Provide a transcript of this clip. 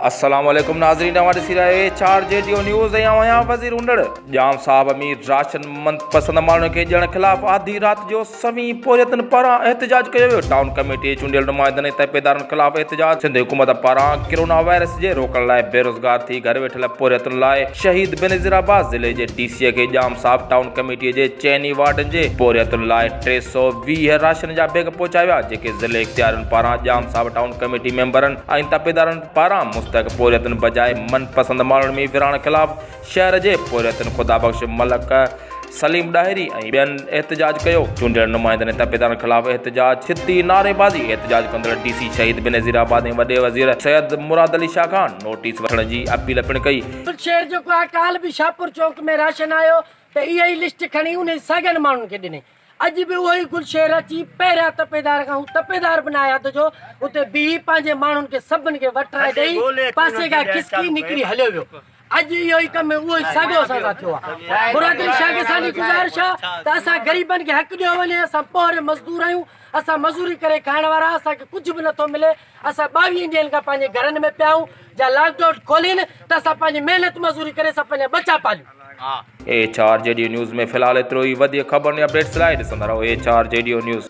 السلام عليڪم ناظرين اوهان ڏسي رهيا اهي چار جي ڊيو نيوز ۽ اوهان آهيان وزير هوندڙ ڄام صاحب امير راشن مند پسند ماڻهن کي ڏيڻ خلاف آڌي رات جو سوين پورهيتن پاران احتجاج ڪيو ويو ٽائون ڪميٽي چونڊيل نمائندن ۽ تپيدارن خلاف احتجاج سنڌ حڪومت پاران ڪرونا وائرس جي روڪڻ لاء بيروزگار ٿي گهر ويٺل پورهيتن لاء شهيد بينظير عباس ضلعي جي ڊي سيء کي ڄام صاحب ٽائون ڪميٽيء جي چئن ئي وارڊن جي پورهيتن لاء ٽي سؤ ويهه راشن جا بيگ پهچايا ويا، جيڪي ضلعي اختيارين پاران ڄام صاحب ٽائون ڪميٽي ميمبرن ۽ تپيدارن پاران مستحق پورهيتن بجاء من پسند ماڻهن ۾ ورهاڻ خلاف شهر جي پورهيتن خدا بخش ملڪ، سليم ڏاهري ۽ ٻين احتجاج ڪيو، چونڊيل نمائندن ۽ تحبيدارن خلاف احتجاج، ڇتي نعريبازي، احتجاج ڪندڙ ڊي سي شهيد بينظير آباد ۽ وڏي وزير سيد مراد علي شاهه کان نوٽيس وٺڻ جي اپيل پڻ ڪئي. شير جيڪو آهي ڪالهه به شاهپور چوڪ ۾ راشن آيو ته اها ئي لسٽ کڻي انهي ساڳين ماڻهن کي ڏني اڄ به اهو ئي گل شير اچي پهريان تپيدار کان هو تپيدار به ناهي حد جو اتي بيهي پنهنجي ماڻهن کي سڀن کي وٽرائي ڏئي پاسي کان کسڪي نڪري هليو ويو اڄ اهو ئي ڪم اهو ئي ساڳيو اسان سان ٿيو آهي. برادري شاهه کي اسان جي گذارش آهي ته اسان غريبن کي حق ڏيو وڃي، اسان پوهري مزدور آهيون، اسان مزوري ڪري کائڻ وارا، اسان کي ڪجهه به نٿو ملي، اسان ٻاويهن ڏينهن کان پنهنجي گهرن ۾ پيا آهيون، جا لاڪ ڊائون کولين ته اسان پنهنجي محنت مزوري ڪري اسان پنهنجا ٻچا پاليون. ايڇ آر جي ڊيو نيوز ۾ في الحال ايترو ئي وڌيڪ خبرن ۽ اپڊيٽس لاء ڏسندا رهو ايڇ آر جي ڊيو نيوز.